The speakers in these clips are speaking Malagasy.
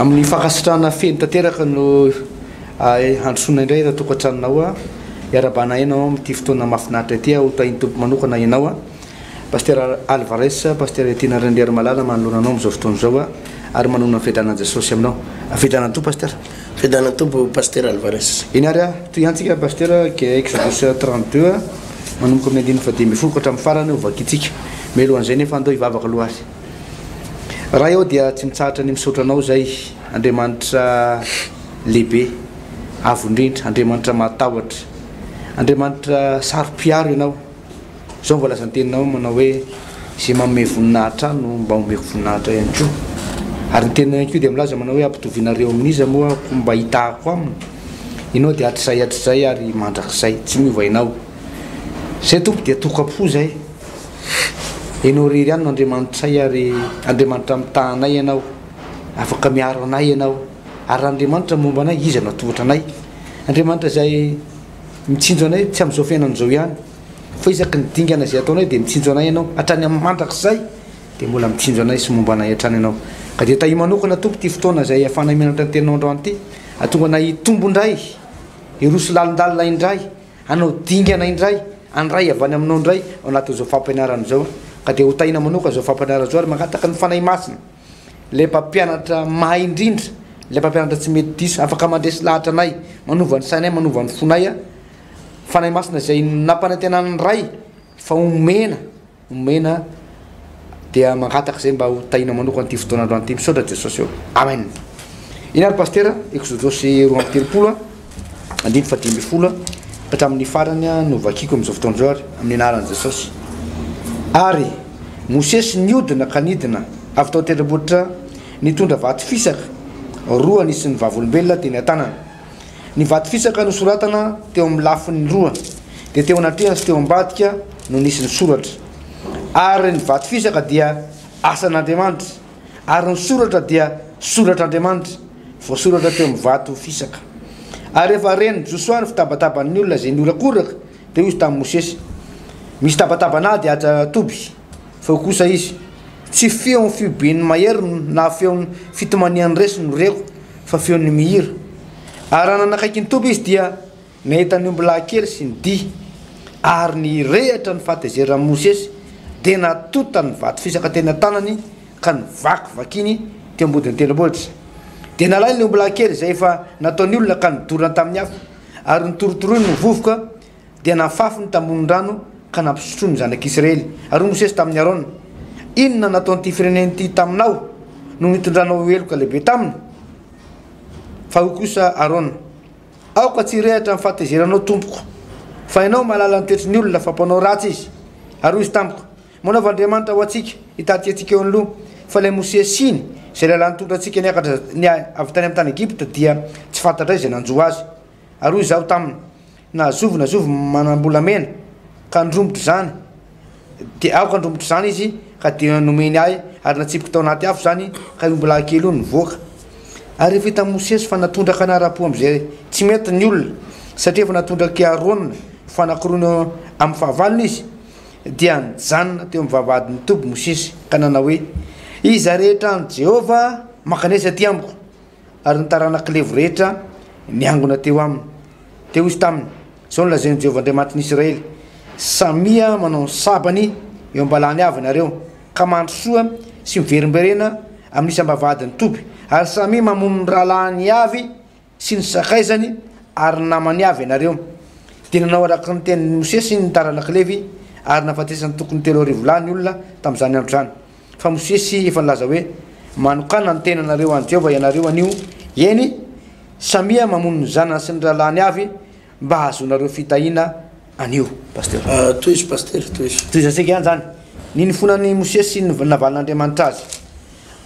Amin'ny fankasitrahana feno tanteraka no handrosoana indray ireo tokantranonao hiarahabana enao amin'ity fotoana mahafinaritra ity aho hotahin'ny Tompo manokana ianao Pasitera Alvarez Pasitera Etina Randriarimalala manoloana anao amin'izao fotoana izao ary manohana ny fiadanan'i Jesosy aminao Fiadanan'ny Tompo Pasitera. Fiadanan'ny Tompo Pasitera Alvarez. Eny ary toy ihany tsika Pasitera dia Exodus trente deux manomboka amin'ny andininy fahadimy ambin'ny folo ka hatramin'ny farany ho vakintsika. Mialohan'izay nefa andao hivavaka aloha ary. Ray aho dia tsy mitsahatra ny misaotra anao izay Andriamanitra lehibe avo indrindra Andriamanitra mahatahotra Andriamanitra saro-piaro ianao izao ny voalazan-teninao manao hoe izay manome voninahitra ahy no mba homeko voninahitra ihany koa ary ny teninao ihany koa dia milaza manao hoe ampitovinareo amin'iza moa ko mba hitahako aminy ianao dia hatrizay hatrizay ary mandrakizay tsy miova ianao izay tompo dia tokam-po izay Ianao irery ihany no Andriamanitray ary Andriamanitra mitaha anay Ianao. Afaka miaro anay Ianao. Ary raha Andriamanitra momba anay, iza no hatohitra anay? Andriamanitra izay mitsinjo anay tsy amin'izao fiainana izao ihany, fa isaky ny dingana izay ataonay dia mitsinjo anay Ianao. Hatrany amin'ny mandrakizay dia mbola mitsinjo anay sy momba anay hatrany Ianao. Ka dia tahio manokana Tompo ity fotoana izay ahafahanay mianatra ny Teninao androany ity, hahatonga anay hitombo indray, hiroso lalindalina indray. Hanao dingana indray, handray avy any aminao indray ao anatin'izao fampianarana izao, ka dia ho tahina manokana izao fampianarana izao ary mangataka ny Fanahy Masina, ilay mpampianatra mahay indrindra, ilay mpampianatra tsy mety diso, afaka mandresy lahatra anay, manova ny sainay, manova ny fonay, Fanahy Masina izay nampanantenan'ny Ray fa homena. omena dia mangataka izay mba ho tahinao manokana ity fotoana androany ity misaotra Jesosy ô amen iny ary pastera exodosy roa amby telopolo a andiny fadimy ambin'ny folo a hatramin'ny farany a no vakiko amin'izao fotoana izao ary amin'ny anaran'i Jesosy ary Mosesy niodina ka nidina avy tao an-tendrombohitra nitondra vato fisaka roa nisy ny vavolombelona teny an-tanana Ny vato fisaka nosoratana teo amin'ny lafiny roa, dia teo anatrehan sy teo ambadika no nisy ny soratra. Ary ny vato fisaka dia asan'Andriamanitra, ary ny soratra dia soratr'Andriamanitra, voasoratra teo amin'ny vato fisaka. Ary rehefa ren'i Josoa ny fitabataban'ny olona izay nihorakoraka, dia hoy izy tamin'i Mosesy, Misy tabatabana ady atsy an-toby. Feo kosa izy. Tsy feon'ny fihoben'ny mahery na feon'ny fitomanian'ny resy no reko fa feon'ny mihira. Ary raha nanakaiky ny toby izy dia nahita ny omby lahy kely sy ny dihy. Ary nirehitra ny fahatezeran'i Mosesy dia natonta ny vato fisaka teny an-tanany ka novakivakiany teo am-bodin'ny tendrombohitra. Dia nalainy ny omby lahy kely izay efa nataony olona ka nodorany tamin'ny afo ary notorotoroiny ho vovoka dia nafafy ny tambohon-drano ka nampisotroiny ny zanak'Israely. Ary hoy Mosesy tamin'i Arona, Inona nataon'ity firenena ity taminao no nitondranao ho heloka lehibe taminy? Fa hoy kosa Arona, Aoka tsy hirehatra ny fahatezeranao, tompoko, fa ianao mahalala ny toetry ny olona fa mpanao ratsy izy. Ary hoy izy tamiko, Manaova andriamanitra ho antsika, hitady antsika eo anoloany, fa ilay Mosesy siny, izay lehilahy nitondra antsika niakatra avy tany amin'ny tany Egypta, dia tsy fantatray izay nanjo azy. Ary hoy izaho taminy, Na zovy na zovy manam-bolamena ka handromotra izany, dia aoka handromotra izany izy, ka dia nomeny ahy, ary natsipiko tao anaty afo izany, ka io ombilahy kely io nivoaka. Ary efa hitan'i Mosesy fa natondraka anara-po amin'izay tsy mety ny olona, satria efa natondrak'i Arona ho fanakorony eo amin'ny fahavalony izy. Dia nijanona teo amin'ny vavahadin'ny toby Mosesy, ka nanao hoe, Iza rehetra any Jehovah mankanesa aty amiko? ary ny taranak'i Levo rehetra niangona teo aminy. Teo izy taminy, izao no lazain'i Jehovah Andriamanitr'i Israely, Samia manao ny sabany eo am-balahany avy ianareo, ka mandrosoa sy miverimberena amin'ny isam-bavahadin'ny toby, ary samia mamono ny rahalahiny avy sy ny sakaizany ary ny namany avy ianareo. Dia nanao araka ny tenin'i Mosesy ny taranak'i Levy, ary nahafatesany tokony telo arivo lahy ny olona tamin'izany andro izany. Fa Mosesy efa nilaza hoe, Manokàna ny tenanareo ho an'i Jehovah ianareo anio, eny, samia mamono ny zanany sy ny rahalahiny avy, mba hahazoanareo fitahiana anio. Pasteur. Tohizo Pasteur, tohizo. Tohizantsika ihany izany. Nino fona an'i Mosesy sy ny navalin'Andriamanitra azy.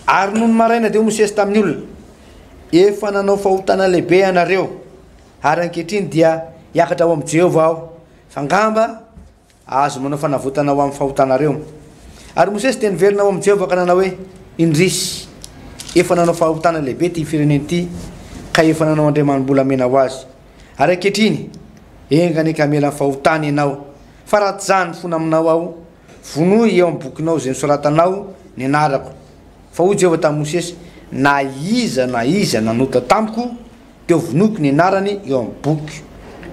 Ary nony maraina dia hoy Mosesy tamin'ny olona, Efa nanao fahotana lehibe ianareo, ary ankehitriny dia hiakatra ho amin'i Jehovah aho. Fa angamba, Azo manao fanavotana ho amin'ny fahotanareo. Ary Mosesy dia niverina ho amin'i Jehovah ka nanao hoe, Indrisy! Efa nanao fahotana lehibe ity firenena ity, ka efa nanao andriamani-bolamena ho azy. Ary ankehitriny, enga anie ka hamela ny fahotany ianao. Fa raha tsy izaho no mifona aminao ao, vonoy eo amin'ny bokinao izay nosoratanao ny anarako. Fa hoy Jehovah tamin'i Mosesy, Na iza na iza nanota tamiko Teo Vonoiko ny anarany eo amin'ny boky.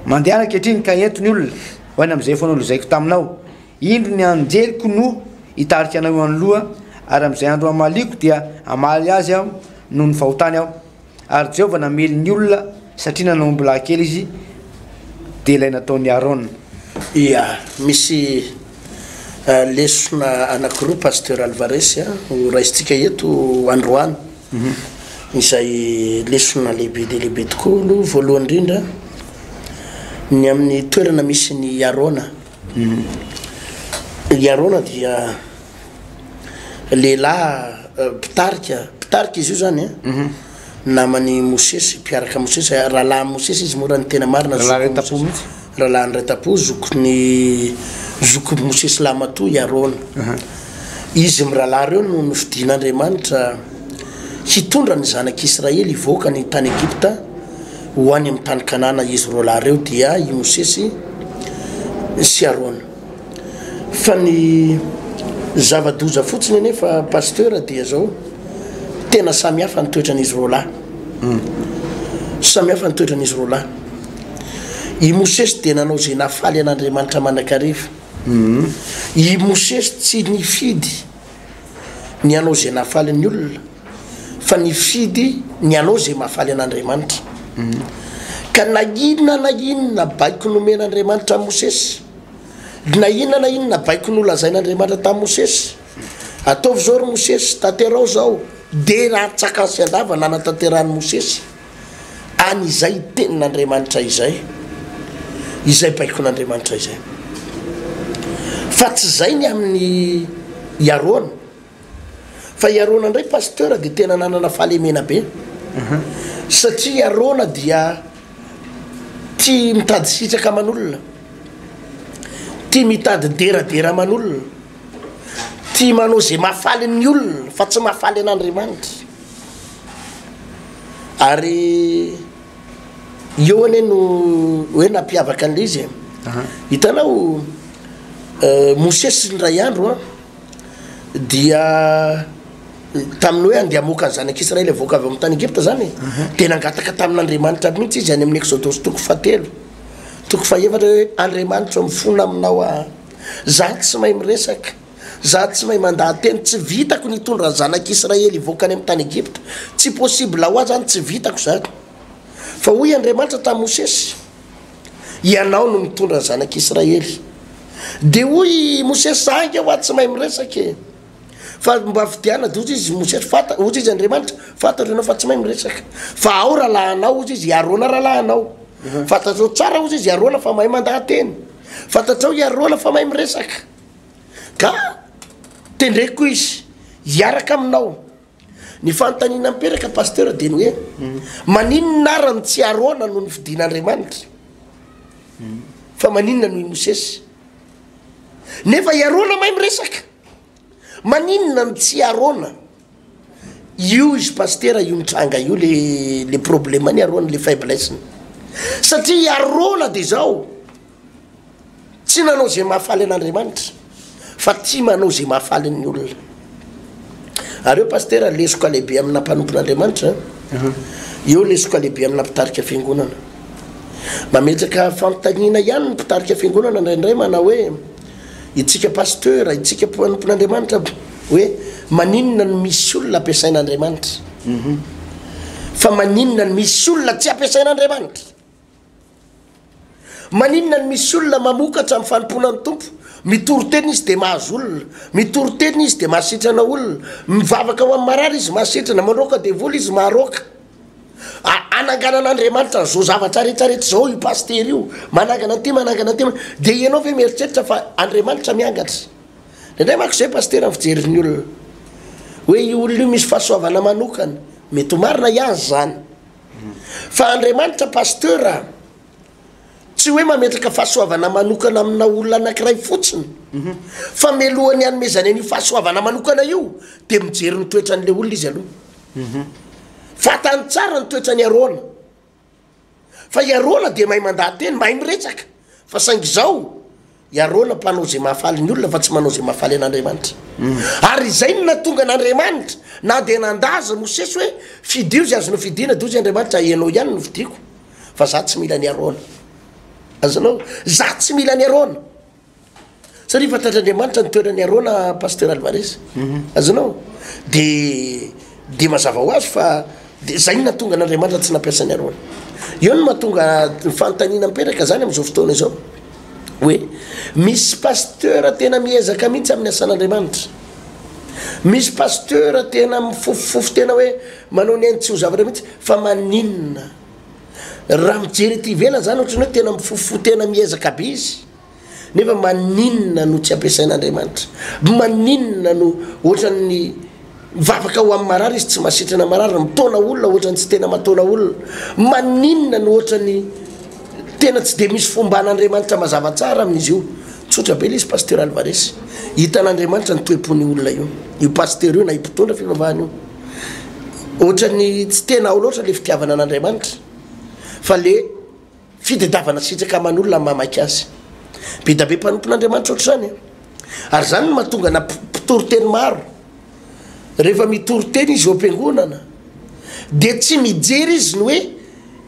Mandehana ankehitriny ka ento ny olona, ho any amin'izay efa nolozaiko taminao. Indro ny anjeliko no hitarika anao eo anoloha, ary amin'izay andro hamaliako dia hamaly azy aho noho ny fahotany aho. Ary Jehovah namely ny olona satria nanao ombilahikely izy, dia ilay nataon'i Arona. Ia, misy Lesona anankiroa Pasteur Alvarez ho raisintsika eto androany, izay lesona lehibe dia lehibe tokoa aloha voalohany indrindra ny amin'ny toerana misy ny Arona, i Arona dia lehilahy mpitarika, mpitarika izy io zany an. naman'i Mosesy, mpiaraka Mosesy, rahalahin'i Mosesy izy moa raha ny tena marina, Rahalahin'i Retapo mihitsy. Rahalahin'i Retapo, zokin'i zokin'i Mosesy lahimatoa i Arona. Izy mirahalahy ireo no nofidin'Andriamanitra hitondra ny zanak'i Israely hivoaka ny tany Egypta ho any amin'ny tany Kanana, izy roalahy ireo dia i Mosesy sy Arona. Fa ny zava-doza fotsiny anefa Pasteur dia izao, tena samy hafa ny toetran'izy roalahy. Samy hafa ny toetran'izy roalahy. I Mosesy dia nanao izay nahafaly an'Andriamanitra mandrakariva. I Mosesy tsy nifidy ny hanao izay nahafaly ny olona, fa nifidy ny hanao izay mahafaly an'Andriamanitra. Ka na inona na inona baiko nomen'Andriamanitra an'i Mosesy, na inona na inona baiko nolazain'Andriamanitra tamin'i Mosesy, ataovy izao ry Mosesy, tanteraho izao, dia raha tsy an-kansy an-dava nanatanterahan'i Mosesy. any izay tenin'Andriamanitra izay, izay baikon'Andriamanitra izay. Fa tsy izay ny amin'ny i Arona. Fa i Arona indray pasteur dia tena nanana fahalemena be. Mhm. Satria i Arona dia tia mitady sitraka aman'olona, tia mitady deradera aman'olona, tia manao izay mahafaly ny olona fa tsy mahafaly an'Andriamanitra. Ary eo anie no hoe nampiavaka an'ilay izy e. Hitanao Mosesy indray andro an, dia tamin'ny hoe andeha hamoaka ny zanak'Israely avoaka avy amin'ny tany Egypta izany e, dia nangataka tamin'Andriamanitra mihitsy izy any amin'ny Exodosy toko fahatelo toko fahefatra hoe Andriamanitro a, mifona aminao aho, izaho tsy mahay miresaka. Za tsy mahay mandahateny, tsy vitako ny hitondra ny zanak' Israely hivoaka any amin'ny tany Egypta, tsy possible ho ahy zany, tsy vitako zany. Fa hoy Andriamanitra tamin'i Mosesy, Ianao no mitondra ny zanak' Israely. Dia hoy i Mosesy, Za ange hoa tsy mahay miresaka e! Fa mba fidiana, dia hoy izy Mosesy, fanta, hoy izy Andriamanitra, fantatro ianao fa tsy mahay miresaka, fa ao rahalahinao, hoy izy, i Arona rahalahinao. Fantatrao tsara, hoy izy, i Arona fa mahay mandahateny. Fantatrao i Arona fa mahay miresaka. Ka tendreko koa izy hiaraka aminao. Ny fanontaniana mipetaka Pasteur dia ny hoe maninona ary ny tsy Arona no nofidin'Andriamanitra? Fa maninona no i Mosesy? Nefa i Arona mahay miresaka! Maninona no tsy i Arona? Io izy Pasteur io nitranga io le le problème-ny Arona le faiblesse-ny. Satria i Arona dia izao. Tsy nanao izay mahafaly an'Andriamanitra fa tia manao izay mahafaly ny olona. Ary eo Pasitera lesoka lehibe amina mpanompon'Andriamanitra an. Eo lesoka lehibe amina mpitarika fiangonana. Mametraka fanontaniana ihany ny mpitarika fiangonana indraindray manao hoe itsika Pasitera, itsika mpanompon'Andriamanitra hoe maninona no misy olona ampiasain'Andriamanitra? Fa maninona no misy olona tsy ampiasain'Andriamanitra? Maninona no misy olona mamokatra amin'ny fanompoana ny Tompo? Mitory tena izy dia mahazo olona, mitory tena izy dia mahasitrana olona, mivavaka ho an'ny marary izy mahasitrana, mandroaka devoly izy maharoaka. A, ananganan'Andriamanitra an'izao zavatra rehetra rehetra izao io pasitera io, manangana an'ity manangana an'ity, dia ianao ve mieritreritra fa Andriamanitra miangatra? Indraindray manko izay pasitera ny fijerin'ny olona, hoe io olona io misy fahasoavana manokana, mety ho marina hiany izany. Fa Andriamanitra Pasteur a, tsy hoe mametraka fahasoavana manokana amina olona anankiray fotsiny, fa mialohan'ny hanomezany an'io fahasoavana manokana io dia mijery ny toetran'ilay olona izy aloha. Fantany tsara ny toetran'i Arona, fa i Arona dia mahay mandaha-teny, mahay miresaka, fa saingy izao I Arona mpanao izay mahafaly ny olona fa tsy manao izay mahafaly an'Andriamanitra. Ary izay no nahatonga an'Andriamanitra na dia nanda azy Mosesy hoe, Fidio izay azonao fidiana, dia hoy izy Andriamanitra, Ianao ihany no fidiako, fa izaho tsy mila an'i Arona. Azonao? Izaho tsy mila an'i Arona. Satria fantatr'Andriamanitra ny toeran'i Arona, Pasteur Alvarez. Azonao? Dia. Dia mazava ho azy fa dia izay no nahatonga an'Andriamanitra tsy nampiasa an'i Arona. Eo no mahatonga ny fanontaniana mipetraka izany amin'izao fotoana izao. Hoe misy pasteur tena miezaka mihitsy amin'ny asan'Andriamanitra. Misy pasteur tena mifofofofo tena hoe manao ny ainy tsy ho zavatra mihitsy fa maninona? Raha mijery ety ivelany izany ohatran'ny hoe tena mifofofo tena miezaka be izy. Nefa maninona no tsy ampiasain'Andriamanitra? Maninona no ohatran'ny vavaka ho amin'ny marary izy tsy masitrana marary, mitaona olona ohatran'ny tsy tena mataona olona? Maninona no ohatran'ny tena tsy dia misy fomba an'Andriamanitra mazava tsara amin'izy io? Tsotra be ilay izy Pasteur Alvarez. Hitan'Andriamanitra ny toe-pon'io olona io, io pasteur io na io mpitondra fivavahana io. Ohatran'ny tsy tena ao loatra ilay fitiavana an'Andriamanitra fa le Fitedavana sitraka aman'olona ny mamaky azy. Bedabe mpanompon'Andriamanitra ohatr'izany e! Ary izany no mahatonga na mpitory teny maro, rehefa mitory teny izy eo am-piangonana, dia tsy mijery izy ny hoe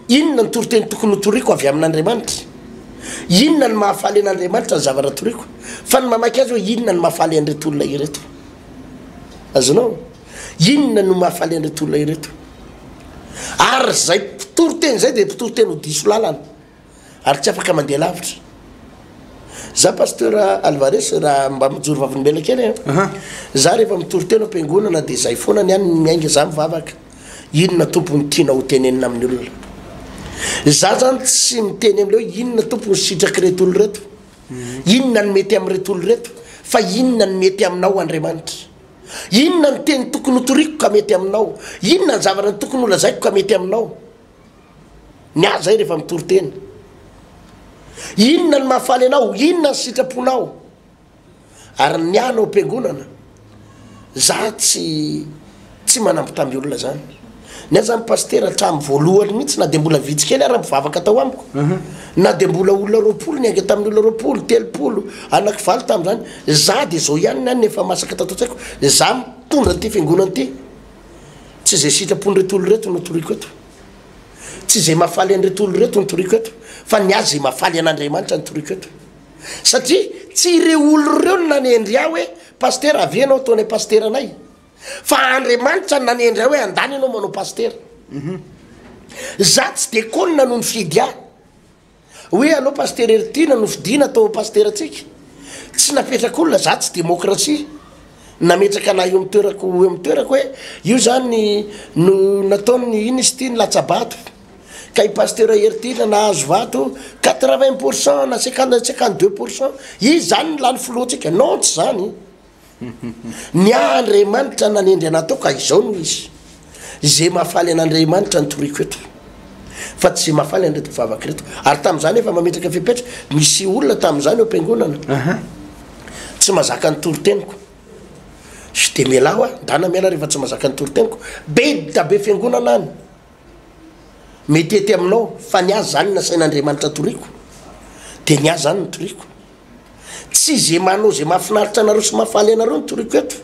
inona ny toriteny tokony hotoriako avy amin'Andriamanitra, inona no mahafaly an'Andriamanitra ny zavatra toriako, fa ny mamaky azy hoe inona no mahafaly an'ireto olona ireto. Azonao? Inona no mahafaly an'ireto olona ireto? Ary izay mpitory teny izay dia mpitory teny ho diso lalana ary tsy afaka mandeha lavitra. Za pasteur Alvarez raha mba mijoro vavolombelona kely e. Za rehefa mitory teny am-piangonana dia izay foana ny any miainga za mivavaka. Inona Tompo no tianao ho tenenina amin'ny olona? Za zany tsy miteny amin'ilay hoe inona Tompo ny sitrak'ireto olona ireto? Inona ny mety amin'ireto olona ireto? Fa inona ny mety aminao Andriamanitra? Inona ny teny tokony hotoriko ka mety aminao? Inona ny zavatra tokony holazaiko ka mety aminao? Miahy izay rehefa mitory teny. Inona ny mahafaly anao? Inona ny sitraponao? Ary ny miahy anao am-piangonana, za tsy tsy manambitamby olona zany. Ny ahy zany Pasitera hatramin'ny voalohany mihitsy na dia mbola vitsy kely ara mivavaka tao amiko, na dia mbola olona roapolo niainga tamin'ny olona roapolo, telopolo, anaki valo tamin'izany, za dia zao ihany na ny efa masaka tato an-tsaiko, za mitondra an'ity fiangonana ity, tsy izay sitrapon'ireto olona ireto no toriko eto, tsy izay mahafaly an'ireto olona ireto no toriko eto, fa ny ahy izay mahafaly an'Andriamanitra no toriko eto, satria tsy ireo olona ireo no nanendry ahy hoe Pasitera avia ianao atao anay Pasitera anay. Fa Andriamanitra no nanendry ahy hoe andany ianao manao pasitera. Za tsy de konona no nifidy ahy. Hoe anao pasitera Heritiana no fidiana atao pasiterantsika. Tsy napetraka olona, za tsy demokrasia. Nametraka anah eo amin'ny toerako eo amin'ny toerako hoe io zany no nataon'ny inona izy ity ny latsabato. Ka i pasitera Heritiana nahazo vato quatre vingt pourcent na cinquante cinquante deux pourcent. Izy zany no lany filohantsika. Non tsy zany. Ny ahy Andriamanitra nanendry anah tao ka izao no izy. Izay mahafaly an'Andriamanitra no toriko eto. Fa tsy izay mahafaly an'ireto mpivavaka ireto. Ary tamin'izany efa mametraka fepetra, misy olona tamin'izany eo am-piangonana tsy mazaka ny toriteniko. Sy dia mialà hoa, ndana miala rehefa tsy mazaka ny toriteniko. Be dida be fiangonana any. Mety hety aminao, fa ny ahy izany nasain'Andriamanitra toriko. Dia ny ahy izany no toriko. Tsy ze manao ze mahafinaritra anareo sy mahafaly anareo no toriko eto.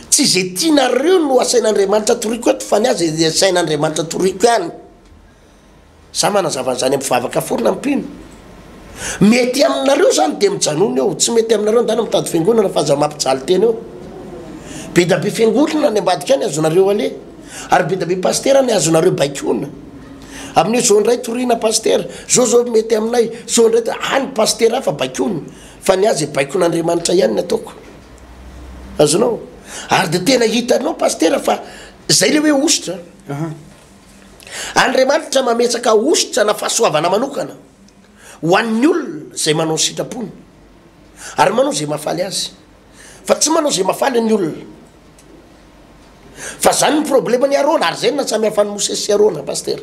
Tsy ze tianareo no asain'Andriamanitra toriko eto fa ny ahy ze asain'Andriamanitra toriko ihany. Za manazava an'izany amin'ny vavaka foana amin'ny mpino. Mety aminareo zany de mijanona eo, tsy mety aminareo ndana mitady fiangonana fa aza mampijaly tena eo. Bedabe fiangonana any ambadika any azonareo aleha ary bedabe pasitera any azonareo baikoina. Amin'io zao ndray toriana pasitera, zao zao mety aminay, zao ndray de any pasitera hafa baikoiny, fa ny azy baikon'Andriamanitra ihany ny ataoko. Azonao? Ary de tena hitanao pasitera fa zay le hoe hosotra. Andriamanitra mametraka hosotra na fahasoavana manokana ho an'ny olona zay manao ny sitrapony ary manao zay mahafaly azy. fa tsy manao zay mahafaly ny olona fa zany ny problema ny arona ary zay ny nasamihafany mosesy sy arona paster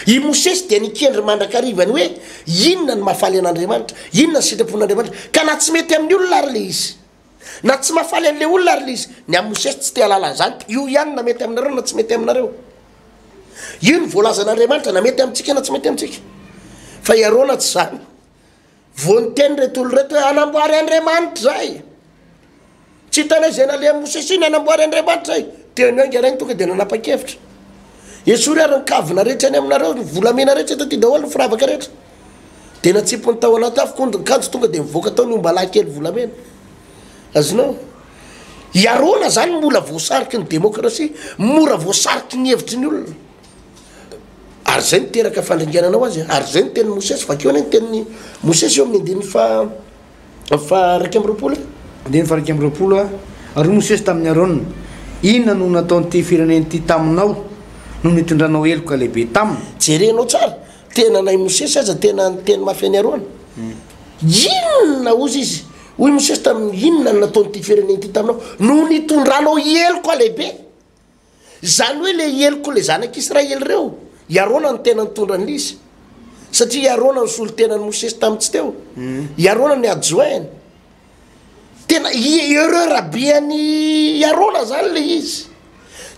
i mosesy dia nikendry mandrakarivany hoe inona ny mahafaly an'andriamanitra inona ny sitrapon'andriamanitra ka na tsy mety amin'ny olona ary le izy na tsy mahafaly an'le olona ary le izy ny am mosesy tsy te halala an'izany io ihany na mety aminareo na tsy mety aminareo io ny voalazan'andriamanitra na mety amintsika na tsy mety amintsika fa i arona tsy zany Vao niteny reto olona reto hoe anamboary Andriamanitra izay. Tsy hitanay izay naleha Mosesy iny anamboary Andriamanitra izay. Teo ny ainga rainy tonga dia nanapa-kevitra. Esory ary ny kavina rehetra any aminareo, ny volamena rehetra eto aty daholo, ny firavaka rehetra. Dia natsipiny tao anaty afo kondin-kanjo tonga dia nivoaka tao ny omba lahy kely volamena. Azonao? Hiarona izany mbola voasariky ny demokrasia, mora voasariky ny hevitry ny olona. Ary izay no teraka fandringanana ho azy. Ary izay no tenin'i Mosesy. Vakio anie ny tenin'i Mosesy eo amin'ny andininy faha, faha iraika amby roapolo e. Andininy faha iraika amby roapolo a. Ary hoy Mosesy tamin'i Arona, Inona no nataon'ity firenena ity taminao, nony nitondranao heloka lehibe taminy? Jerenao tsara, tena anay Mosesy aza tena niteny mafy an'i Arona. Inona, hozy izy, hoy Mosesy taminy, inona no nataon'ity firenena ity taminao, nony nitondranao heloka lehibe? Izany hoe ilay helok'ilay ilay zanak'Israely ireo, i Arona no tena nitondra ny lisy, satria i Arona no solon-tenan'i Mosesy tamin'ny tsy teo, mm. i Arona ny adjoint-ny. Tena erreur abihan'i Arona izany ilay izy.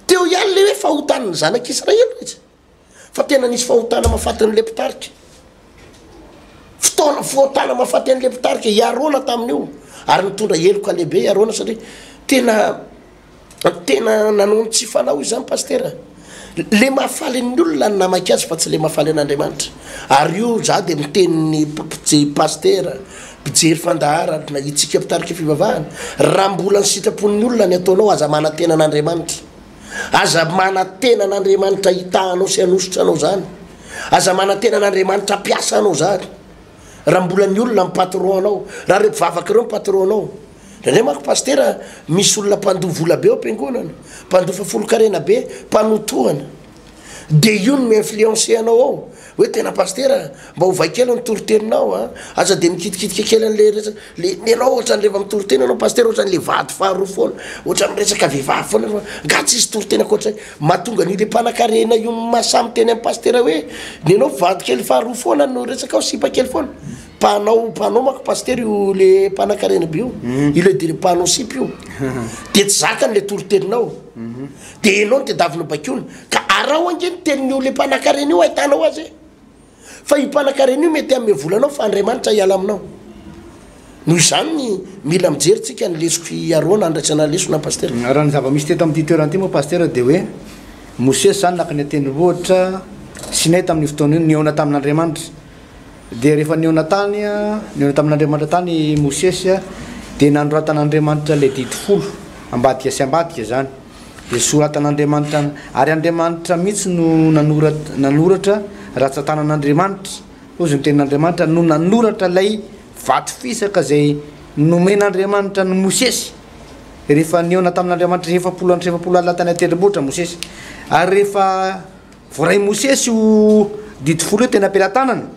Teo ihany ilay hoe fahotan'ny zanak'Israely mihitsy. fa tena nisy fahotana mahafatin'ny le mpitarika ftaona fohotana mahafaty an'le mpitarika iarona tamin'io ary nitondra heloka lehibe iarona satria tena tena nanao ny tsy fanao izy zany pastera le mahafaly ny olona ny namaika azy fa tsy le mahafaly an'andriamanitra ary io za de miteniny ppje pastera mpijery fandaharana na itsika mpitarika fivavahana raha mbola ny sitrapon'ny olona ny ataonao aza manantena an'andriamanitra Aza manantena an'Andriamanitra hitaha anao sy hanosotra anao zany. Aza manantena an'Andriamanitra hampiasa anao zany. Raha mbola ny olona ny patron anao, raha ireo mpivavaka ireo ny patron anao. Indraindray manko pasitera misy olona mpandoa vola be ao am-piangonana, mpandoa fafolonkarena be, mpanotohana. De io no mi-influencer anao ao hoe tena pasitera mba ovay kely ny toriteninao a, aza de mikitikitika kely an'le resaka le ny anao ohatrany rehefa mitoriteny anao pasitera ohatrany le vady faharoa foana, ohatrany miresaka vehivavy foana fa nga tsisy toriteny ankoatr'zay, mahatonga an'io le mpanakarena io maha samy teny amin'ny pasitera hoe ny anao vady kely faharoa foana no resakao sipa kely foana, mpanao mpanao manko pasitera io le mpanakarena be io, io le dire mpanao sipa io de tsy zakany le toriteninao. Dia ianao no tedavy nobaikoina. Ka araho ange ny tenin'io ilay mpanankarena io hahitanao azy e! Fa io mpanankarena io mety hanome vola anao fa Andriamanitra hiala aminao. Noho izany mila mijery tsika ny lesoko hiaroana handraisana lesona an Pasitera. Raha ny zava-misy teto amin'ity toerana ity moa Pasitera dia hoe Mosesy izany naka ny an-tendrombohitra Sinay tamin'io fotoana io, nihaona tamin'Andriamanitra. Dia rehefa nihaona tany, nihaona tamin'Andriamanitra tany i Mosesy, dia nanoratan'Andriamanitra ilay didy folo, ambadika sy ambadika izany, dia soratan'Andriamanitra, ary Andriamanitra mihitsy no nanoratra, nanoratra, ratsan-tanan'Andriamanitra, hoy izy, ny tenin'Andriamanitra no nanoratra ilay vato fisaka izay nomen'Andriamanitra an'i Mosesy, rehefa nihaona tamin'Andriamanitra efapolo andro sy efapolo alina tany an-tendrombohitra Mosesy, ary rehefa Voarain'i Mosesy io Didy folo io teny am-pelatanana,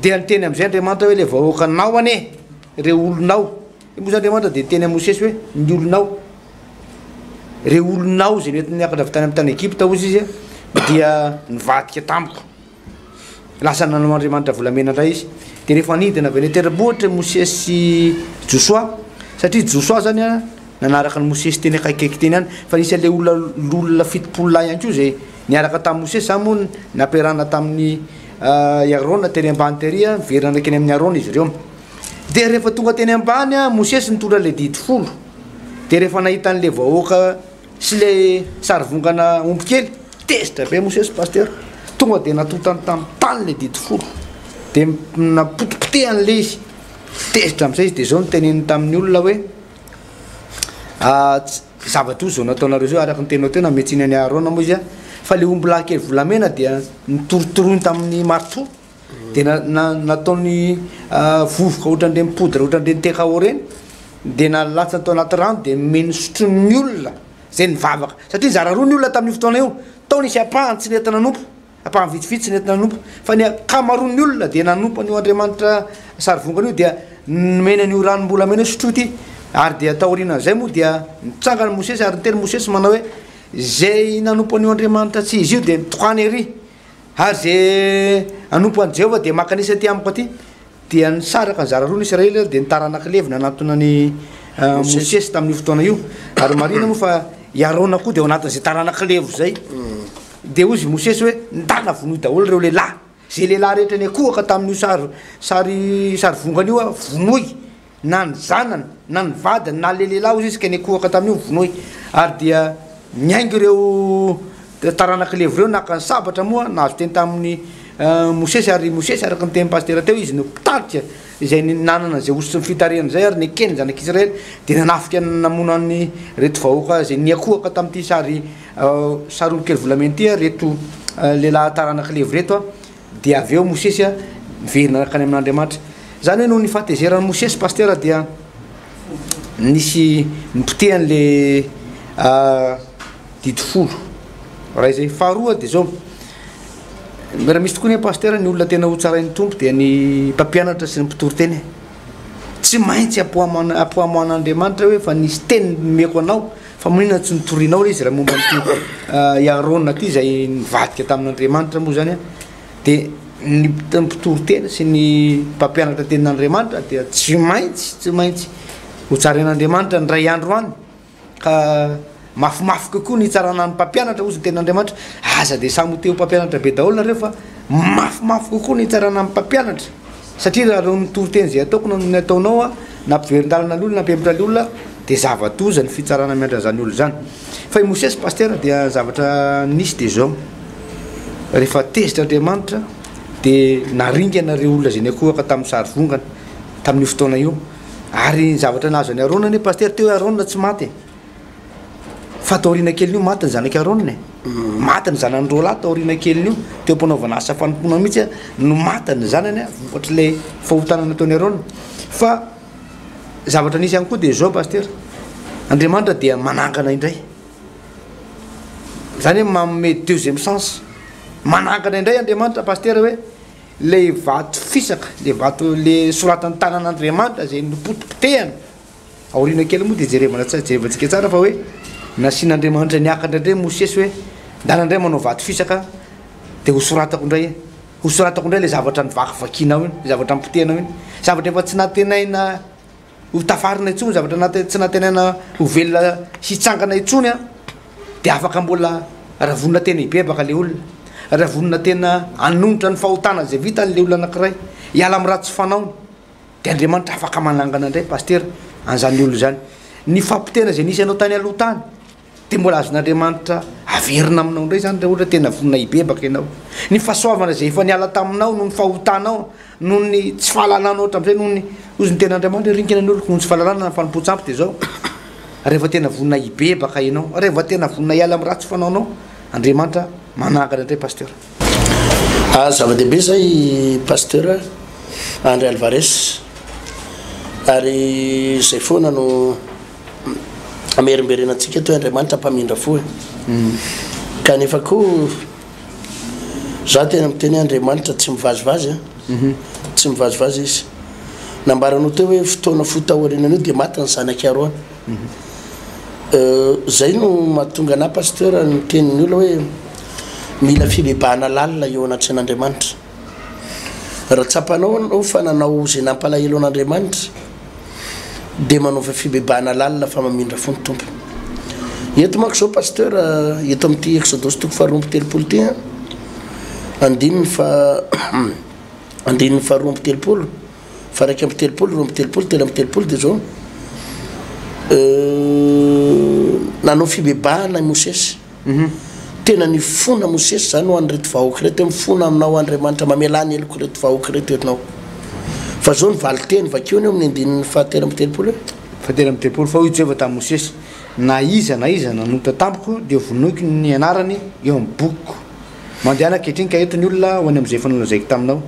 dia niteny amin'izay Andriamanitra hoe, Ilay vahoakanao anie, ireo olonao. Io moa izany Andriamanitra dia niteny amin'i Mosesy hoe, Ny olonao. Ireo olonao izay nentiny niakatra avy tany amin'ny tany Egypta, hoy Izy, dia nivadika tamiko. Lasa nanao andriamanitra volamena indray izy. Dia rehefa nidina avy any an-tendrombohitra i Mosesy sy Josoa, satria Josoa izany a, nanaraka an'i Mosesy teny akaikikaiky teny ihany, fa nisy an'ilay olona olona fitopolo lahy ihany koa izay niaraka tamin'i Mosesy, izany moa no nampiarahana tamin'i i Arona tery ambany tery a, niverina ndraiky eny amin'i Arona izy ireo. Dia rehefa tonga teny ambany a, Mosesy nitondra an'ilay didy folo, dia rehefa nahita an'ilay vahoaka, Sy le sary vongana omby kely. Tezitra be Mosesy Pasteur, tonga dia natotany tamin'ny tany ilay didy folo, dia napotipotehany ilay izy, tezitra amin'izay izy, dia izao no teneniny tamin'ny olona hoe, zavatra izao nataonareo izao araka ny teninao teo nametsiany an'i Aharona moa izy an, fa ilay omby lahy kely volamena dia notorotoroiny tamin'ny marto, de na- na- nataony ah, vovoka ohatran'ireny poudre ohatran'ireny terao ireny de nalatsany tao anaty rano de nomeny sotroin'ny olona zay nivavaka satria nizara roa ny olona tamin'io fotoana io tao nisy ampahany tsy nety nanompo ampahany vitsivitsy tsy nety nanompo fa ny ankamaroan'ny olona dia nanompo an'io andriamanitra sarivongana io dia nomeny an'io ranom-bolamena io sotroy ity ary dia taorianan'izay moa dia nitsangana mosesy ary niteny mosesy manao hoe zay nanompo an'io andriamanitra tsy izy io dia nitohany ery Ary izay hanompo an'i Jehovah dia maka an'isa aty amiko aty. Dia nisaraka nizara roa ny Israely, dia ny taranak'i Levy nanatona an'i Mosesy tamin'io fotoana io. Ary marihina moa fa i Arona koa dia ao anatin'izay taranak'i Levy izay. Dia hoy izy i Mosesy hoe, Ndana vonoy daholo ireo lehilahy, izay lehilahy rehetra niankohoka tamin'io sary sary sarivongana io, vonoy. na ny zanany na ny vadiny na le lehilahy ozy izy ka nikohaka tamin'io vonoy ary dia miainga ireo taranak'i Levy ireo naka ny sabatra moa nahazo teny tamin'ny eh, Mosesy ary Mosesy araka ny tenin'ny pasitera teo izy no mpitarika izay nanana izay osy sy ny fitarihana izay ary nekeny zanak'i Israely dia nanafika namono an'ny reto vahoaka izay niakohaka tamin'ity sary eh, sary olokely volamena ity reto eh, lehilahy taranak'i Levy reto Dia avy eo Mosesy niverina nankany amin'Andriamanitra. Izany hoe noho ny fahatezeran'i Mosesy Pasitera dia nisy nipoteha an'ilay didy folo. Iray izay. Faharoa dia izao, raha misy tokoa anie Pasitera ny olona tena hotsarain'ny Tompo dia ny mpampianatra sy ny mpitory teny. Tsy maintsy ampohaman'Andriamanitra hoe efa nisy teny nomeko anao. Fa maninona tsy notorianao re izy raha momba an'ity i Aharôna ity izay nivadika tamin'Andriamanitra moa izany a? Dia ny mpit- mpitory tena sy ny mpampianatra tenin'Andriamanitra dia tsy maintsy tsy maintsy ho tsarain'Andriamanitra ny indray andro any ka mafimafy kokoa ny hitsarana ny mpampianatra hozy ny tenin'Andriamanitra. Aza dia samy ho te ho mpampianatra be daholo nareo fa mafimafy kokoa ny hitsarana ny mpampianatra. Satria raha ireo mitoriteny izay ataoko no ny ataonao a, nampiverin-dalana ny olona, nampihemotra ny olona, dia zava-doza ny fitsarana miandry an'izany olona izany. Fa i Mosesy Pasitera dia ny zavatra nisy dia izao, rehefa tezitra Andriamanitra dia naringana ireo olona izay niankohoka tamin'ny sary vongana, tamin'io fotoana io. Ary ny zavatra nahazo an'i Arona anie Pasitera, teo hoe Arona tsy maty e. Fa tao aoriana kelin'io maty ny zanak'i Arona e. Maty ny zanany roa lahy tao aoriana kelin'io. Teo am-panaovana asa fanompoana mihitsy no maty ny zanany vokatr'ilay fahotana nataon'i Arona. Fa zavatra nisy ihany koa dia izao pasitera, Andriamanitra dia manangana indray, izany hoe manome deuxième chance. Manangana indray Andriamanitra pasitera hoe ilay vato fisaka, ilay vato ilay soratan'ny tanan'Andriamanitra izay nopotipotehana. Aoriana kely moa dia jerevana tsara, jerevantsika tsara fa hoe nasian'Andriamanitra niakatra indray Mosesy hoe ndana indray manao vato fisaka dia ho soratako indray e, ho soratako indray ilay zavatra novakivakianao iny, ilay zavatra nopotehanao iny, zavatra efa tsy nantenaina ho tafarina intsony, zavatra nate- tsy nantenaina ho velona hitsangana intsony an, dia afaka mbola raha vonona tena hibebaka ilay olona, raha vonona tena hanonitra ny fahotana izay vitan'ilay olona anankiray, hiala amin'ny ratsy fanaony. de Andriamanitra afaka manangana ndray Pasteur an'izany olona izany, ny fahapoteana izay nisy anao tany aloha tany de mbola azon'Andriamanitra averina aminao ndray zany raha ohatra tena vonona hibebaka ianao, ny fahasoavana izay efa niala taminao noho ny fahotanao, noho ny tsy fahalalànao hatramizay, noho ny, hozy ny tenin'Andriamanitra hoe ringana ny oloko noho ny tsy fahalalàna na ny fanompoan-tsampy de zao, rehefa tena vonona hibebaka ianao, rehefa tena vonona hiala amin'ny ratsy fanaonao, Andriamanitra manangana ndray Pasteur. Ah zava-dehibe zay i Pasteur Andry Alvarez ary zay foana no amerimberena antsika toy Andriamanitra mpamindra fo e kanefa koa za tena miteny hoe Andriamanitra tsy mivazivazy an tsy mivazivazy izy nambaranao teo hoe fotoana fohy taorianan'io dia maty ny zanak'i Arona Izay no mahatonga anà Pasteur niteny ny olona hoe mila fibebahana lalina eo anatrehan'Andriamanitra. Raha tsapanao ianao fa nanao izay nampalahelo an'Andriamanitra dia manaova fibebahana lalina fa mamindra fo ny Tompo. Eto manko izao Pasteur eto amin'ity Exodosy toko faharoa amby telopolo ity an, andininy faha andininy faharoa amby telopolo. fa iraika amby telopolo, roa amby telopolo, telo amby telopolo dia izao nanao fibebahana i Mosesy. Mhm. Tena nifona Mosesy izany ho an'ireto vahoaka ireto hoe mifona aminao Andriamanitra mamelà ny heloko ireto vahoaka ireto ianao. Fa izao ny valinteny vakiony eo amin'ny andininy fahatelo amby telopolo hoe fahatelo amby telopolo fa hoy Jehovah tamin'i Mosesy, Na iza na iza nanota tamiko dia hovonoiko ny anarany eo amin'ny bokiko. Mandehana ankehitriny ka eto ny olona ho any amin'izay efa nolazaiko taminao.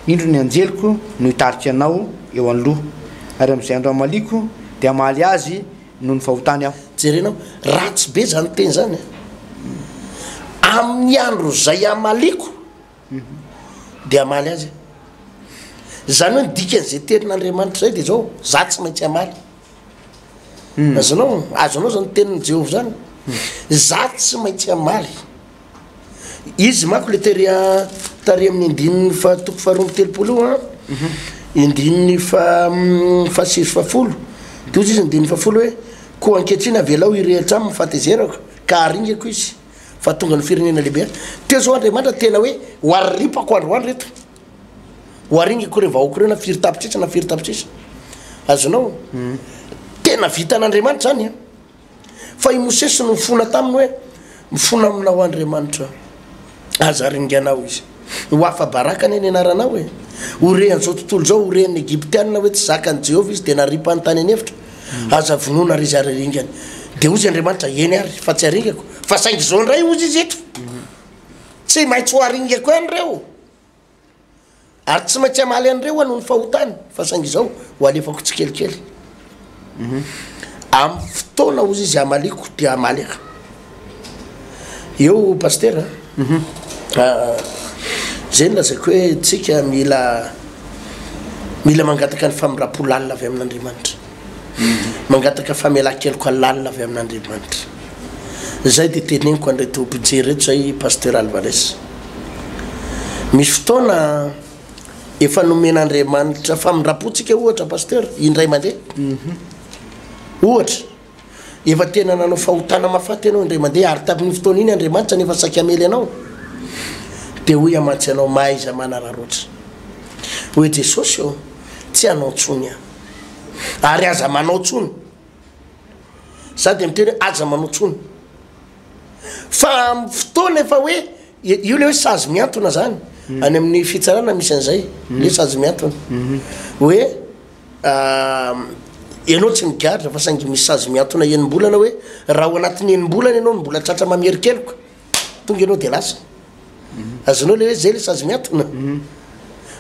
Indro ny anjeliko no hitarika anao eo anoloha, ary amin'izay andro hamaliako dia hamaly azy noho ny fahotany aho. Jerenao, ratsy be izany teny izany a! Amin'ny andro izay hamaliako dia hamaly azy aho. Izany hoe ny dikan'izay tenin'Andriamanitra izay dia izao, izaho tsy maintsy hamaly. Azonao? Azonao izany tenin'i Jehovah izany? Izaho tsy maintsy hamaly. Izy manko le tery a tary amin'ny andininy faha toko faha roa amby telopolo io an, andininy faha fahasivy sy fahafolo, de hozy izy andininy fahafolo hoe, koa ankehitriny avelao hirehitra aminy ny fahatezerako, ka haringako izy, fa tonga ny firenena lehibe. Teo zao Andriamanitra tena hoe, ho aripako andro ho andro ireto, ho aringako ireo vahoaka ireo na firy tapitrisa na firy tapitrisa, azonao? tena vitan'Andriamanitra zany an. Fa i Mosesy no nifona taminy hoe, Mifona aminao Andriamanitra, aza ringanao izy. Ho afa-baraka anie ny anaranao e! Ho re an'izao tontolo izao, ho ren'ny Egyptiana hoe tsy zakan'i Jehovah izy, dia naripany tany an'efitra, Aza vonoina àry izy ary aringany. Dia hoy Andriamanitra, Eny àry, fa tsy aringako. Fa saingy izao indray, hoy izy eto, Tsy maintsy ho aringako ihany ireo. Ary tsy maintsy hamaly an'ireo aho noho ny fahotany, fa saingy izao ho alefako tsikelikely. Amin'ny fotoana hozy izy hamaliako dia hamaly aho. Eo Pasitera a! Izay no lazaiko hoe tsika mila mila mangataka ny famindram-po lalina avy amin'Andriamanitra. mangataka famelan-keloka lalina avy amin'Andriamanitra. Izay dia teneniko an'ireto mpijery ireto izay Pasteur Alvarez. Misy fotoana efa nomen'Andriamanitra famindram-pontsika ohatra Pasteur, indray mandeha. Mhm. Ohatra, efa tena nanao fahotana mahafaty ianao indray mandeha ary tamin'iny fotoana iny Andriamanitra nefa saika hamely anao. Dia hoy amantsy anao mahaiza manararaotra. Hoe Jesosy ô, tsy hanao intsony aho. ary aza manao tsony za de miteny hoe aza manao tsony fa am fotoana efa hoe io le hoe sazy miantona zany hmm. any amin'ny fitsarana misy an'izay hmm. le sazy miantona hmm. hoe ianao tsy migadra fa saingy misy sazy miantona enimbolana hoe raha ho anatin'ny enimbolana ianao no mbola tratra mamerikeloka tonga ianao de lasa azonao le hoe zay le sazy miatona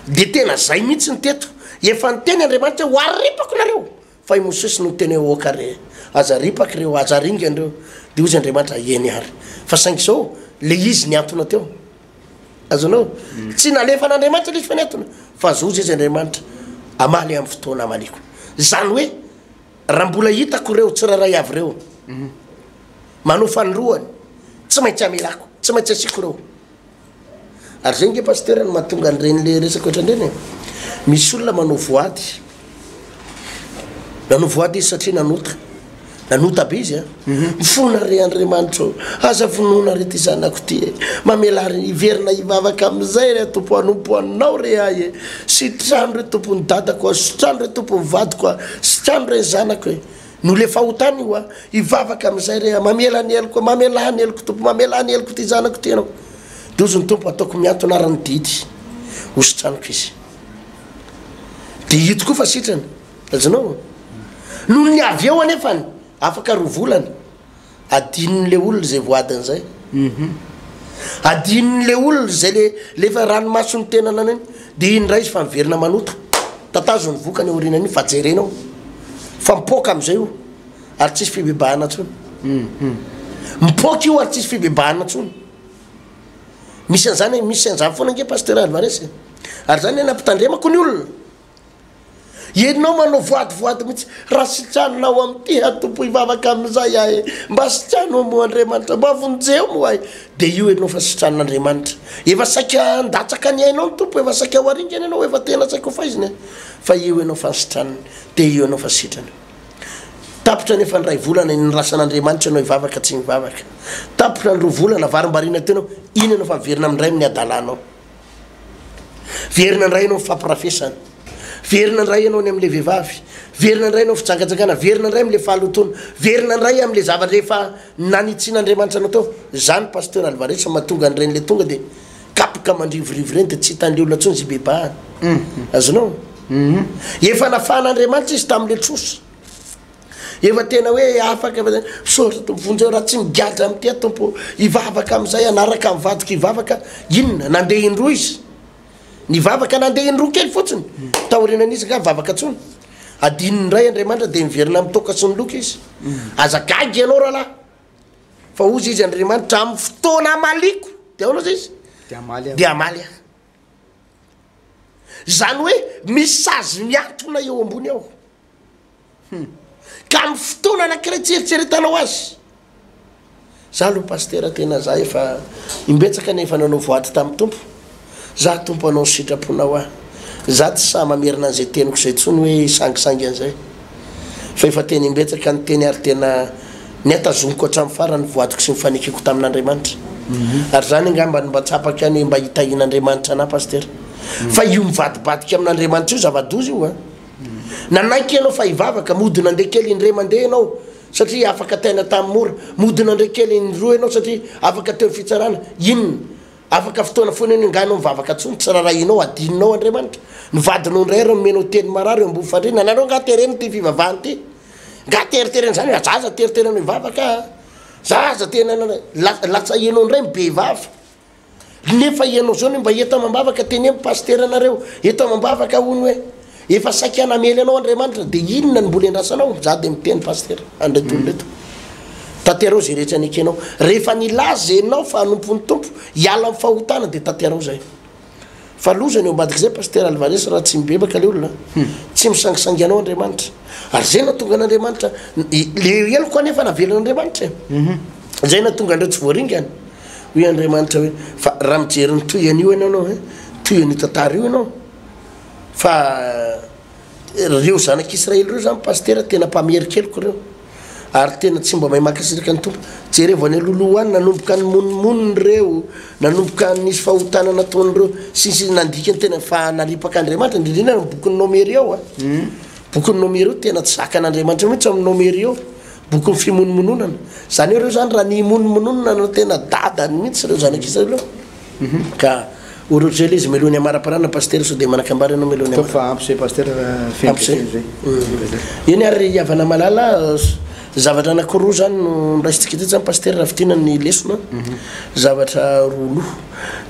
de tena zay mihitsy ny teto efa niteny andriamanitra ho aripako nareo fa i mosesy no teny hoe oka re aza ripaky reo aza ringany reo de ozy andriamanitra eny ary fa saingy zao le izy niantona teo azonao tsy nalefan'andriamanitra le izy fa niatona fa zoa zay izy andriamanitra amaly amin'ny fotoana amaliako zany hoe Raha mbola hitako ireo tsirairay avy ireo manao fanindroany, tsy maintsy amelako, tsy maintsy asiako ireo. Ary izay ange Pasitera no mahatonga an'ireny le resaka ohatrany ireny e. Misy olona manao voady, nanao voady izy satria nanota, nanota be izy an. Mifona re Andriamanitra ô! Aza vonoina re ty zanako ty e! Mamelà ary hiverina hivavaka amin'izay re Tompo hanompo Anao re ahy e! Sitrano re Tompo ny dadako a! Sitrano re Tompo ny vadiko a! Sitrano re ny zanako e! No le fahotana io a! Hivavaka amin'izay re aho! Mamela ny heloko a! Mamelà ny heloko Tompo! Mamelà ny heloko ty zanako ty Ianao! Dozo ny Tompo ataoko mihantona ary ny didy ho sitraniko izy! Dia io tokoa fa sitrana! Azonao? Nony avy eo anefany Afaka roa volana, adinony le olona zay voadiny zay, adinony le olona zay le le efa ranomasony tena nanao iny, de iny ndray izy fa miverina manota, tatazo ny vokany aorinan'iny fa jerenao fa mipoaka amizay io ary tsisy fibebahana tsony, mipoaka io ary tsisy fibebahana tsony, misy anzany misy anzany fona nge Pasteur Alvarez e, ary zany le nampitandremako ny olona Ianao manao voady voady mihitsy raha sitraninao ao amin'ny tiha tompo hivavaka amin'izay ahy mba sitrano moa Andriamanitra mba vonjeo moa ahy dia io ianao fa sitranin'Andriamanitra efa saika handatsaka ny ainao ny tompo efa saika ho aringany ianao efa tena saika ho faizina e fa io ianao fa ny sitraniny dia io ianao fa sitrany tapitra ny efa ndray volana ny rasan'Andriamanitra ianao hivavaka tsy mivavaka tapitra ny roa volana varimbariana teo ianao iny ianao fa averina amindray amin'ny adalanao Very nandray ianao ny fampirafesana. Very nandray ianao ny amin'ilay vehivavy. Very nandray ianao fijangajangana. Very nandray amin'ilay fahalotoana. Very nandray amin'ilay zavatra efa nanitsian'Andriamanitra anao tao. Izany Pasteur Alvarez fa mahatonga an'ireny ilay tonga dia kapoka mandrivorivo ireny dia tsy hitan'ilay olona intsony izy hibebahana. Azonao? Efa nafahan'Andriamanitra izy tamin'ilay trosa. Efa tena hoe afaka efa zay. Misaotra Tompo vonjeo raha tsy migadra amin'ity aho Tompo. Hivavaka amin'izay hanaraka amin'ny vadiko hivavaka. Inona? Nandeha indroa izy. Nivavaka nandeha indroa kely fotsiny. Taorianan'izy nga vavaka tsony. Adinony indray Andriamanitra dia miverina amin'ny toaka sy ny loka izy. Aza gaga ianao rahalahy. Fa hozy izy Andriamanitra amin'ny fotoana hamaliako. Dia ahoana izay izy? Dia hamaly aho. Dia hamaly aho. Izany hoe misy sazy miantona eo ambony ao. Hum. Ka amin'ny fotoana anankiray tsy eritreretanao azy. Za aloha Pasitera tena za efa imbetsaka anie efa nanao voady tamin'ny Tompo. Za Tompo anao ny sitraponao aho. Za tsy sahy mamerina an'izay teniko izay intsony hoe hisangisangy an'izay. Fa efa tena imbetsaka ny teny ary tena nihatazomiko hatramin'ny farany ny voadiko sy ny fanekeko tamin'Andriamanitra. Ary zany angamba no mba tsapako ihany hoe mba hitahian'Andriamanitra anah Pasitera. Fa io mivadibadika amin'Andriamanitra io zava-doza io a. Nanaiky ianao fa hivavaka, mody nandeha kely indray mandeha ianao satria afaka taina tamin'ny mora, mody nandray kely indroa ianao satria afaka teo ny fitsarana, inona? Afaka fotoana foana iny angaha ianao mivavaka tsony, tsy rarahianao, adinonao Andriamanitra? Ny vadinao indray ary nomenao teny marary eo ambony fandriana, anareo angaha terena ity fivavahana ity? Angaha teriterena izany hoe za aza teriteranao hivavaka a! Za aza tena, latsahianao indray ny be vava. Rehefa ianao zao ny mba eto amambavaka teneno pasitera nareo eto amambavaka hono hoe efa saika namely anao Andriamanitra dia inona ny mbola endrasanao za dia miteny pasitera andray tolo reto mm. tanterao zay rehetra nekenao rehefa nilaza enao fa anompon'ny tompo hiala amin'ny fahotana dia tanterao zay Fa loza ny eo ambadik'izay Pasitera Alvarez raha tsy mibebaka ilay olona a! Tsy misangisangy anao Andriamanitra. Ary izay nahatonga an'Andriamanitra le heloko anefa navelan'Andriamanitra e! Izay nahatonga an'ireo tsy voaringana. Hoy Andriamanitra hoe, fa raha mijery ny toy an'io ianao ianao e, toy an'io tantara io ianao, fa. Reo zanak' Israely reo zany pasitera tena mpamerikeloko reo ary tena tsy mba mahay mankasitraka ny tompo jerevo any aloloha any nanomboka ny monimoniny reo nanomboka nisy fahotana nataony reo sisy nandika ny tena fa naripak' Andriamanitra indrindrina ny bokin'ny nomery ao a hmm. bokin'ny nomery eo tena tsy zakan'Andriamanitra mihitsy amin'ny nomery eo bokin'ny fimonomononana zany eo reo zany raha ny imonomononana no tena dadany mihitsy reo zanak' Israely reo Ka. O Rogel izy meloa ny hamaraparana Pasitera sao dia manakambara ianao meloa ny hamaraparana. Ataovy fa ampy zay Pasitera fa feno dia feno zay. Umm. Eny ary ry havana malala zavatra anakiroa zany no noraisintsika teto zany Pasitera raha fintinana ny lesona an. Zavatra roa loha.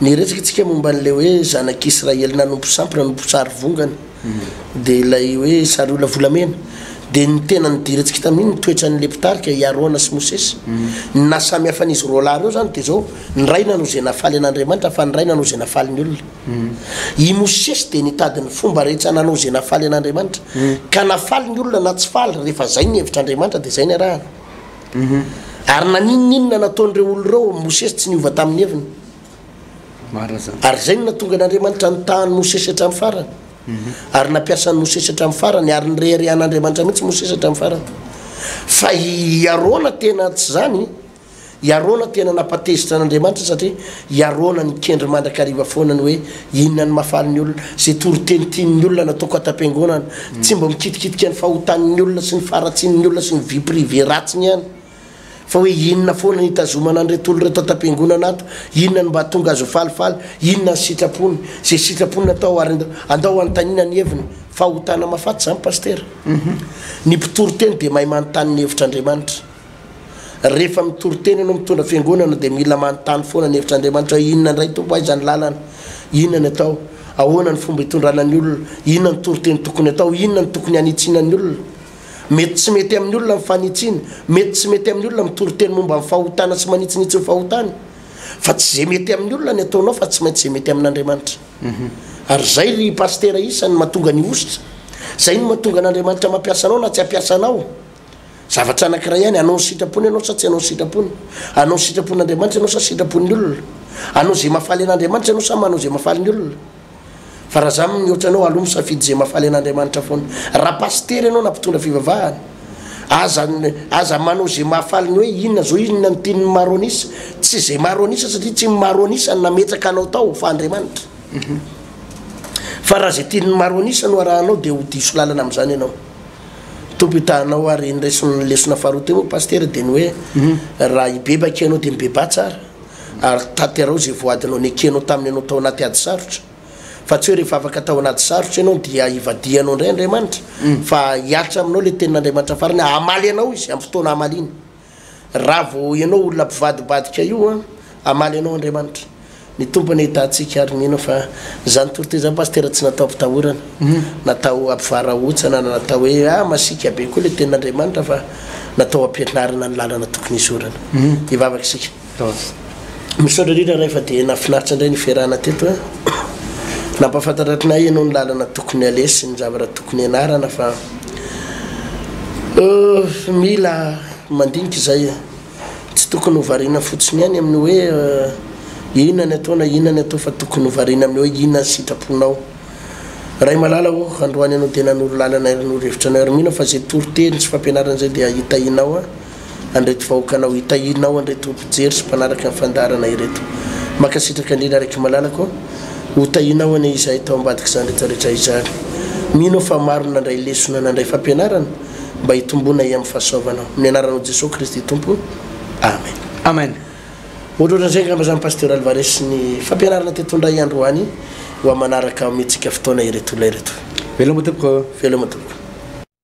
Niresaka tsika momba an'ilay hoe zanak'Israely nanompo sampy nanompo sarivongana. Dia ilay hoe sariolona volamena. Dia ny tena nidirantsika tamin'iny ny toetran'ilay mpitarika i Arona sy Mosesy. Ny nahasamy hafan'izy roa lahy ireo izany dia izao, ny iray nanao izay nahafaly an'Andriamanitra fa ny iray nanao izay nahafaly ny olona. I Mosesy dia nitady ny fomba rehetra nanao izay nahafaly an'Andriamanitra, ka nahafaly ny olona na tsy faly, rehefa izay ny hevitr'Andriamanitra dia izay ny arahana. Ary na n'inon'inona nataon'ireo olona ireo, Mosesy tsy niova tamin'ny heviny. Ary izay no nahatonga an'Andriamanitra nitaha an'i Mosesy hatramin'ny farany. Mhm. Ary nampiasa an'i Mosesy hatramin'ny farany, ary nireharehan'Andriamanitra mihitsy Mosesy hatramin'ny farany. Fa i Arona tena tsy izany, i Arona tena nampatezitra an'Andriamanitra satria i Arona nikendry mandrakariva foana ny hoe inona ny mahafaly ny olona, izay toriteny tian'ny olona nataoko an-tampiangonana, mhm. tsy mba mikitikitika ny fahotan'ny olona sy ny faharatsian'ny olona sy ny vie privée ratsiny ihany. Fa hoe inona foana ny hitazomana an'ireto olona ireto an-tampiangonana ato? Inona no mba hahatonga azy ho falifaly? Inona ny sitrapony? Izay sitrapony no atao ary andao hanontaniana ny heviny. Fahotana mahafaty izany Pasitera. Ny mpitory teny dia mahay manontany ny hevitr' Andriamanitra. Rehefa mitory teny ianao, mitondra fiangonana dia mila manontany foana ny hevitr' Andriamanitra hoe inona indray Tompo, aiza ny lalana? Inona ny atao? Ahoana ny fomba hitondrana ny olona? Inona ny toriteny tokony atao? Inona no tokony hanitsiana ny olona? Mety tsy mety amin'ny olona ny fanitsiana, mety tsy mety amin'ny olona mitoriteny momba ny fahotana sy manitsinitsy ny fahotany, fa tsy izay mety amin'ny olona ny ataonao fa tsy maintsy izay mety amin'Andriamanitra. Ary izay ry Pasitera isany no mahatonga ny hosotra, izay no mahatonga an'Andriamanitra mampiasa anao na tsy hampiasa anao. Zavatra anankiray ihany, hanao ny sitrapony ianao sa tsy hanao ny sitrapony? Hanao ny sitrapon'Andriamanitra ianao sa sitrapon'ny olona? Hanao izay mahafaly an'Andriamanitra ianao sa manao izay mahafaly ny olona? Fa raha za mihoatra anao alou misafidy ze mafaly an'Andriamanitra foana. Raha pasitera ianao na mpitondra fivavahana, aza aza manao ze mahafaly ny hoe inona zao inona ny tian'ny maro an'isa, tsy ze maro an'isa satria tsy ny maro an'isa no nametraka anao tao fa Andriamanitra. Fa raha ze tian'ny maro an'isa no arahanao dia ho diso lalana amin'izany ianao. Tompo hitahanao ary ny reson'ny lesona faharoa teo moa pasitera dia ny hoe raha hibebaka ianao dia mibebaha tsara. ary tanterao izay voadinao nekenao tamin'ny anao tao anaty ady sarotra, fa tsy hoe rehefa afaka tao anaty sarotra ianao dia hivadihanao indray Andriamanitra, fa hihatra aminao ilay tenin'Andriamanitra farany hoe hamaly anao Izy amin'ny fotoana hamaliany. Raha vao ianao olona mpivadibadika io an, hamaly anao Andriamanitra. Ny Tompo anie hitahy antsika ary mino fa izany toriteny izany Pasitera tsy natao hampitahorana, natao hampivarahontsana na natao hoe ah masiaka be koa ilay tenin'Andriamanitra fa natao hampianarana ny lalana tokony hizorana. Hivavaka isika. Misaotra indrindra ray fa dia nafinaritra indray ny fiarahana teto a. Nampafantatra atrinay ianao ny lalana tokony aleha sy ny zavatra tokony ianarana fa mila mandinika izay e. Tsy tokony ho variana fotsiny ihany amin'ny hoe inona ny atao na inona ny atao fa tokony ho variana amin'ny hoe inona ny sitraponao. Ray malala ô, androany ianao dia nanoro lalana ary nanoro hevitra anao ary mino aho fa izay toriteny sy fampianarana izay dia hitahinao a. an'ireto vahoakanao hitahirinao an'ireto mpijery sy mpanaraka ny fandaharana ireto. Mankasitraka indrindra Rakimalalako ô! Ho tahianao anie izahay tao ambadik'izany rehetra rehetra izany. Mino aho fa maro ny nandray lesona, nandray fampianarana mba hitomboana hiamin'ny fahasoavanao. Amin'ny anaranao Jesoa Kristy Tompo. Amen. Amen. Ohatrohatran'izay angamba izany Pasteur Alvarez sy ny fampianarana teto indray androany ho amanaraka omentsika fotoana ireto olona ireto. Veloma tompoko. Veloma tompoko.